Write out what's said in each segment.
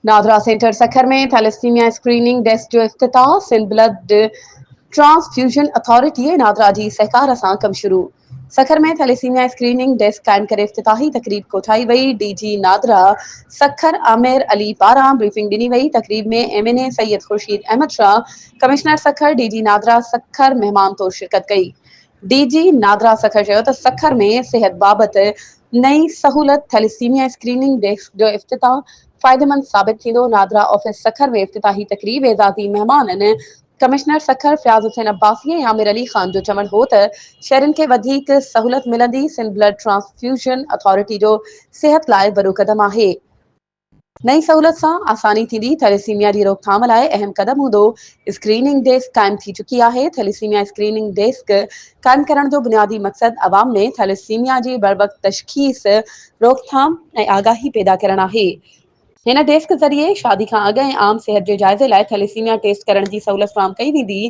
NADRA centre Sukkur ۾ thalassaemia screening desk جو افتتاح، Sindh blood transfusion authority ۽ NADRA جي سهڪار سان ڪم شروع سکر ۾ ٿيليسيميا اسڪريننگ ڊيسڪ قائم ڪري افتتاحي تقريب ڪوٺائي وئي، ڊي جي نادرا سکر عامر علي پاران بريفنگ ڏني وئي، تقريب ۾ M N A Syed Khurshid Ahmed Shah, commissioner Sukkur D G NADRA Sukkur مهمان طور شرڪت ڪئي. ڊي جي نادرا سکر چيو ته سکر ۾ صحت بابت نئين سهولت ٿيليسيميا اسڪريننگ ڊيسڪ جو افتتاح فائديمند ثابت ٿيندو، نادرا آفيس سکر ۾ افتتاحي تقريب اعزازي مهمانن ڪمشنر سکر فياض حسين عباسي ۽ عامر علي خان جو چوڻ هو ته شهرين کي وڌيڪ سهولت ملندي، سنڌ بلڊ ٽرانسفيوزن اٿارٽي جو صحت لاء وڏو قدم آهي. نئين سهولت سان آساني ٿيندي، ٿيليسيميا جي روڪٿام لاء اهم قدم هوندو، اسڪريننگ ڊيسڪ قائم ٿي چڪي آهي، ٿيليسيميا اسڪريننگ ڊيسڪ قائم ڪرڻ جو بنيادي مقصد عوام ۾ ٿيليسيميا جي بروقت تشخيص، روڪٿام ۽ آگاهي پيدا ڪرڻ آهي، هن ڊيسڪ ذريعي شادي کان اڳ ۽ عام صحت جي جائزي لاء ٿيليسيميا ٽيسٽ ڪرڻ جي سهولت فراهم ڪئي ويندي،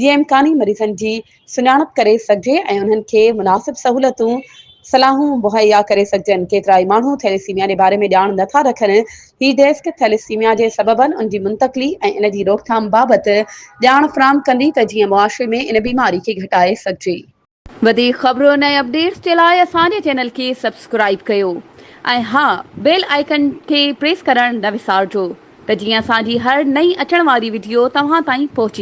جيئن امڪاني مريضن جي سڃاڻپ ڪري سگهجي ۽ انهن کي مناسب سهولتون، صلاحون مهيا ڪري سگهجن. ڪيترائي ماڻهو ٿيليسيميا جي باري ۾ ڄاڻ نه ٿا رکن. هي ڊيسڪ ٿيليسيميا جي سببن، ان جي منتقلي ۽ ان جي روڪٿام بابت ڄاڻ فراهم ڪندي ته جيئن معاشري ۾ ان بيماري کي گهٽائي سگهجي. وڌيڪ خبرن ۽ اپڊيٽس جي لاء اسان جي چينل کي سبسڪرائيب ڪيو ۽ ها بيل آئيڪن کي پريس ڪرڻ نه وسارجو ته جيئن اسان جي هر نئين اچڻ واري وڊيو توهان تائين پهچي